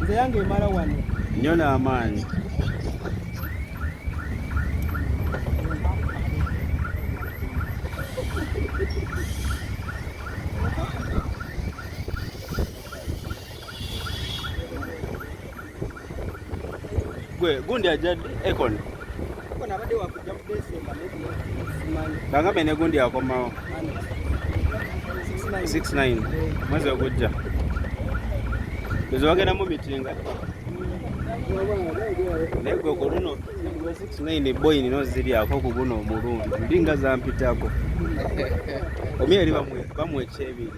nze yange emala wano nnyo n'amaanyi gwe gundi ajadde ekon bangambe ne gundi akomawo 69 mwezi ogujja ezo bagenda mu mitinga naye gwe ku luno 69 boyi nino ziryako ku guno omulundi ndi nga zampitako omi eri bamwekyebiri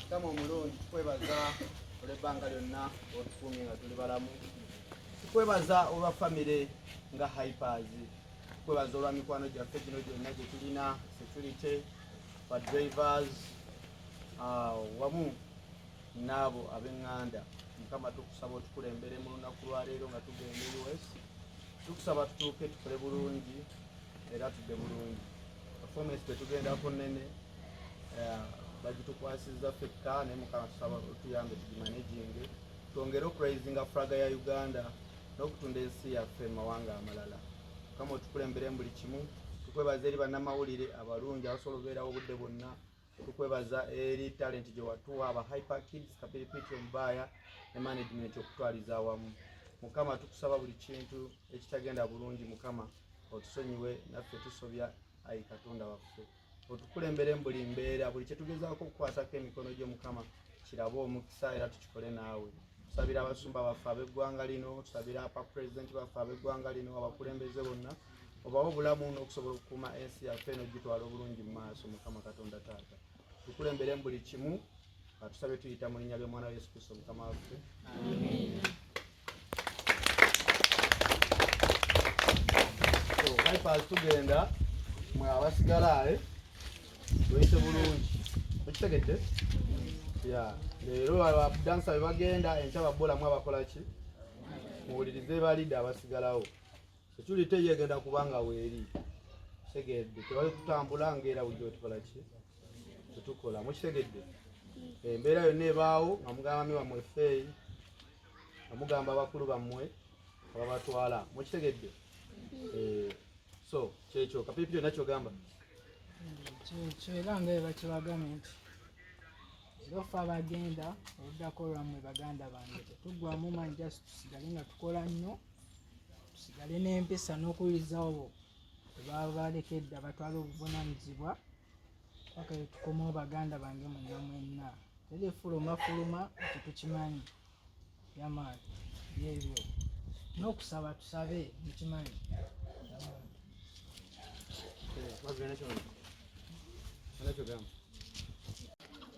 mukama omulungi tukwebaza olwebbanga lyonna otukumye nga tuli balamu tukwebaza olwa famire nga hypers tukwebaza olwa mikwano gyaffe gino gyonna gye tulina security ba drivers ah, wamu naabo abenganda mukama tukusaba otukulembere mu lunaku lwaleero nga tugenda e us tukusaba tutuuke tukole bulungi era tudde bulungi performance tetugenda ku nene eh, bagitukwasizza fekka naye mukama tusaba otuyambe tugimanaginge twongere okuraisinga fraga ya uganda n'okutunda ensi yaffe mu mawanga amalala mukama otukulembere mu buli kimu tukwebaza eri bannamawulire abalungi abasobola obeerawo obudde bwonna tukwebaza eri talenti gye watuwa aba hyper kids kapiripiti omubaaya ne management okutwaliza awamu mukama tukusaba buli kintu ekitagenda bulungi mukama otusonyiwe naffe tusobya ayi katonda waffe otukulembere mu buli mbeera buli kyetugezaako okukwatako emikono gyo mukama kirabe omukisa era tukikole naawe tusabira abasumba baffe ab'eggwanga lino tusabira apa pulezidenti baffe ab'eggwanga lino abakulembeze bonna obawe obulamu n'okusobola okukuuma ensi yaffe n'okugitwala obulungi mu maaso mukama katonda taata tukulembere mu buli kimu atusabe tuyita mu linnya ly'omwana wa yesu kristo mukama waffe bypass tugenda mwe abasigala ale eh? tuyite bulungi okitegedde ya leero abadansa bebagenda enkya babulamu abakolaki muwulirize balidde abasigalawo security ye egenda kubanga weeri kitegedde tewali kutambula ngaera wujja otukola ki tetukola mukitegedde embeera yonna ebaawo nga mugamba mi wamwe feeyi nga mugamba abakulu bammwe ababatwala mukitegedde eh, so kyekyo kapipi yonna kyogamba kyekyo era nga ebakibagambe nti erofa abagenda oluddako lwammwe baganda bange tetuggwamu manyi jasi tusigale nga tukola nnyo tusigale n'empisa n'okuwulirizawo bo bwebaba balekedda batwala obuvunanyizibwa paka etukomawo baganda bange mwenna mwenna teri efuluma fuluma ekyo tukimanyi yamaani byebyo n'okusaba tusabe mukimanyi Gracias.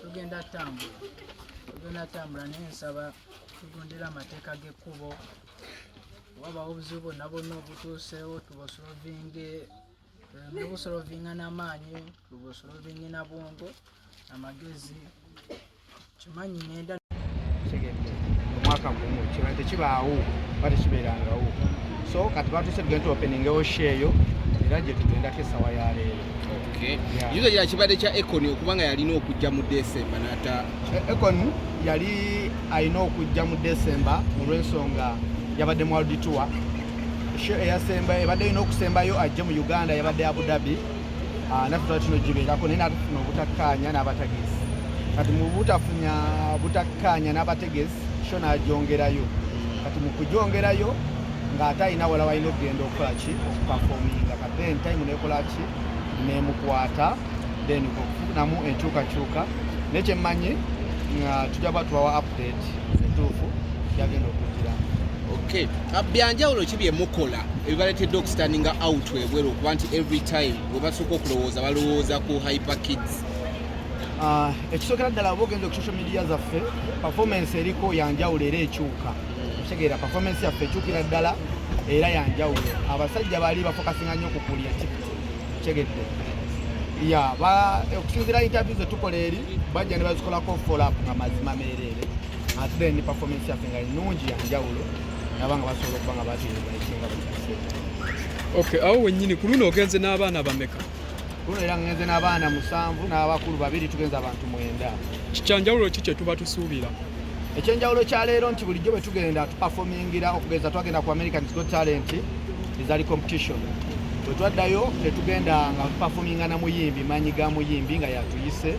tugenda tambula tugenda tambula naye nsaba tugondera amateeka g'ekkubo wabawo obuzibu bwonna bwonna obutuuseewo tubusolovinge eh, nobusolovinga n'amaanyi tubusolovinge na bwongo amagezi kimanyi nenda omwaka gumu kiba tekibaawo ba tekibeerangawo so kati batuse tugenda tuopeningewo sho eyo era gye tugendako esawa ya leero kizo kya kibadde kya econ okubanga yalina okujja mu desemba nata eh, econ yali alina okujja mu desemba olwensonga yabadde mu world tour eyasemba ebadde erina okusembayo ajje mu uganda yabadde abu dhabi ah, naffe tuba kino gibeerako naye natufuna obutakkaanya n'abategesi kati mu butafunya butakkaanya n'abategesi kyo n'agyongerayo kati mu kugyongerayo ng'ate alina wala walina okugenda okukola ki okupafominga kati then time nekola ki nemukwata then okufunamu enkyukakyuka naye kyemmanyi nga tujja kuba tubawa update entuufu yagenda okujjira okay ah, byanjawulo ki bye mukola ebibaletedde okustandinga out ebweru okuba nti every time webasooka okulowooza balowooza ku hyper kids ah, ekisookera ddala oba ogenza ku social media zaffe performance eriko yanjawulo era ekyuka okitegeera performance yaffe ekyukira ddala era yanjawulo abasajja baali bafokasinga nnyo ku kulya kitegedde ya okusinzira interview zetukola eri bajja ne bazikolako follow up nga mazima meereere ate then performance yaffe nga nnungi yanjawulo nabanga basobola okuba nga bateebaekinga ok awo wennyini ku luno ogenze n'abaana bameka kuno era ngenze n'abaana musanvu n'abakulu babiri tugenze abantu mwenda kikyanjawulo ki kye tuba tusuubira ekyenjawulo kya leero nti bulijjo bwe tugenda tupafomingira okugeza twagenda ku american go talent ezali competition bwe twaddayo tetugenda nga tupafominga na muyimbi maanyi ga muyimbi nga yatuyise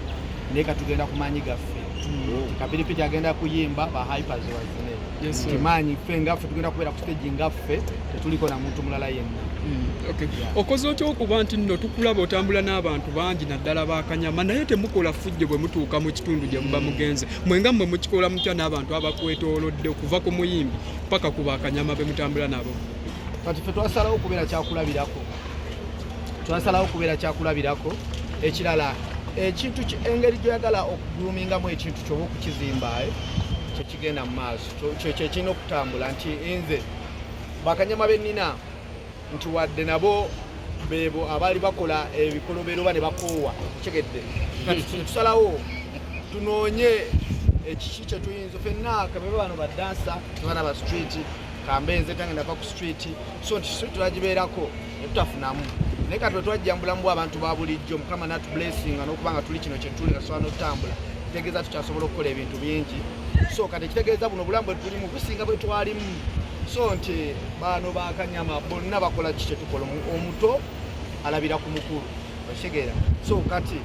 naye katugenda ku maanyi gaffe hmm. kapiripiti agenda kuyimba ba hypers yes, kimanyi ffe ngaffe tugenda kubeera ku stage ngaffe tetuliko na muntu mulala yenna mm, Okay. Yeah. okoze otya okuba nti nno tukulaba otambula n'abantu bangi naddala bakanyama naye temukola fujjo bwe mutuuka mu kitundu gye muba mm. mugenze mwe nga mmwe mukikola mutya n'abantu abakwetoolodde okuva ku muyimbi paka ku bakanyama be mutambula nabo kati fe twasalawo okubeera kyakulabirako twasalawo okubeera kyakulabirako ekirala ekintu engeri gyoyagala okugulumingamu ekintu kyoba okukizimba eh? kyekigenda mu maaso kyekirina okutambula nti nze bakanyama benina nti wadde nabo bebo abaali bakola ebikolobero oba ne bakoowa kyegedde tusalawo tunoonye ekiki kyetuyinza fenna kabebe bano badansa tubana ba street kambe nze tange nava ku street so nti street tulagibeerako netutafunamu naye kati wetwajjambula mubw abantu ba bulijjo mukama natu blessinga nokuba nga tuli kino kyetuli nga tusobola notutambula kitegeeza tukyasobola okukola ebintu bingi so kati ekitegeeza buno obulamu bwetulimu businga bwetwalimu so nti baano bakanyama bonna bakola ki kyetukola omuto alabira ku mukulu okitegeera so kati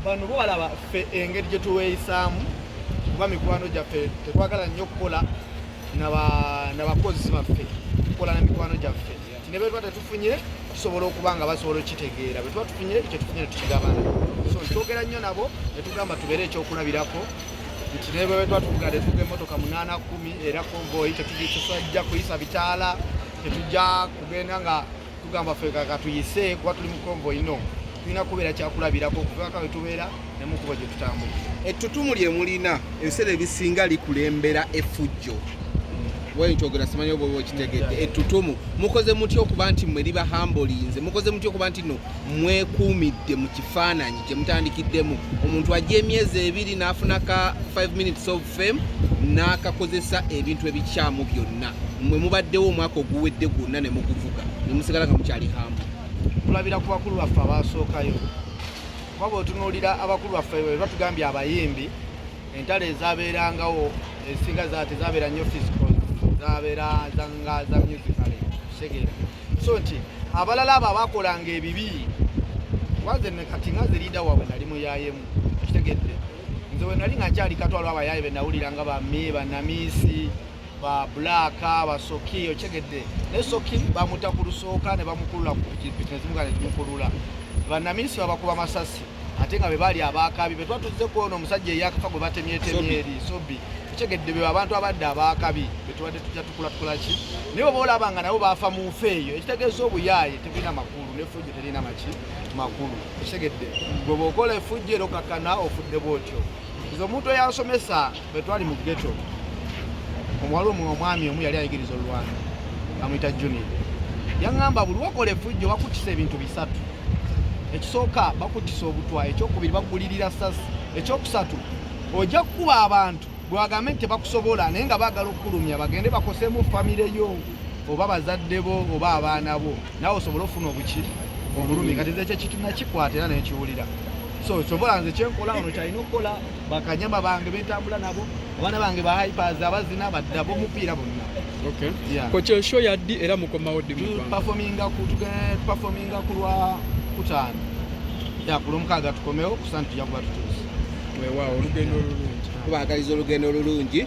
bano bo balaba ffe engeri gyetuweeyisaamu kuba mikwano gyaffe tetwagala nnyo okukola nabakozi baffe okukola na mikwano gyaffe ne bwe tuba tetufunye tusobola okuba nga basobola okitegeera bwe tuba tufunye ekyo tufunye netukigabana so twogera nnyo nabo ne tugamba tubeere ekyokulabirako nti ne bwe tuba tuvuga ne tuvuga emmotoka munaana kumi era konvoyi tetujja kuyisa bitaala tetujja kugenda nga tugamba ffe kaka tuyise kuba tuli mu konvoyi no tulina kubeera kyakulabirako okuvaka we tubeera nemukuba gye tutambula ettutumu lye mulina ebiseera ebisinga likulembera efujjo wayikyogera simanyi oba okitegedde ettutumu mukoze mutya okuba nti mwe liba hambolinze mukoze mutya okuba nti no mwekuumidde mu kifaananyi kye mutandikiddemu omuntu ajja emyezi ebiri n'afuna ka 5 minutes of fame n'akakozesa ebintu ebikyamu byonna mwe mubaddewo omwaka oguwedde gwonna ne muguvuga ne musigala nga mukyali hambo tulabira ku bakulu baffe abaasookayo kuba bwetunuulira abakulu baffe bwe batugambye abayimbi entalo ezabeerangawo ezisinga zati zabeera nnyo physical zabeera zanga za musical segera so nti abalala abo abakolanga ebibi waze nekati nga zirida wabwe nali muyayemu kitegedde nze wenali nga nkyali katwalo abayaye benawuliranga bami banamiisi ba black ba soki okyegedde ne soki bamuta ku lusooka ne bamukulula ku pikipiki ne zimuka ne zimukulula bannaminisita babakuba masasi ate nga be baali abaakabi be twatuzze ku ono omusajja eyakafa gwe batemyetemye eri sobi kitegedde be abantu abadde abaakabi be tubadde tujja tukula tukula ki naye oba olaba nga nabo baafa mu nfa eyo ekitegeeza obuyaaye tebirina makulu n'efujjo terina maki makulu ekitegedde gwe bwokola efujjo era okakkana ofudde bwotyo nze omuntu eyasomesa Bwe twali mu ghetto, omuwala omu omwami omu yali ayigiriza olwana amuyita Junior yaŋŋamba buli wakola efujjo bakuttisa ebintu bisatu ekisooka bakuttisa obutwa ekyokubiri bagulirira sasi ekyokusatu ojja kukuba abantu bwewagambe nti tebakusobola naye nga baagala okukulumya bagende bakosemu famire yo oba bazadde bo oba abaana bo nawe osobole ofuna obuki obulumi nga tezekyo ekitu nakikwata era nekiwulira so sobola nze kyenkola ono kyalina okukola bakanyama bange betambula nabo abaana bange ba hypers abazina badda bomupiira bonna okay. yeah. kokyo show yaddi era mukomawo ddi performinga ku performinga ku lwa kutaano ya ku lwomukaaga tukomewo kusanti tujakuba tutuuse weewaawo olugendo olulungi tubagaliza olugendo olulungi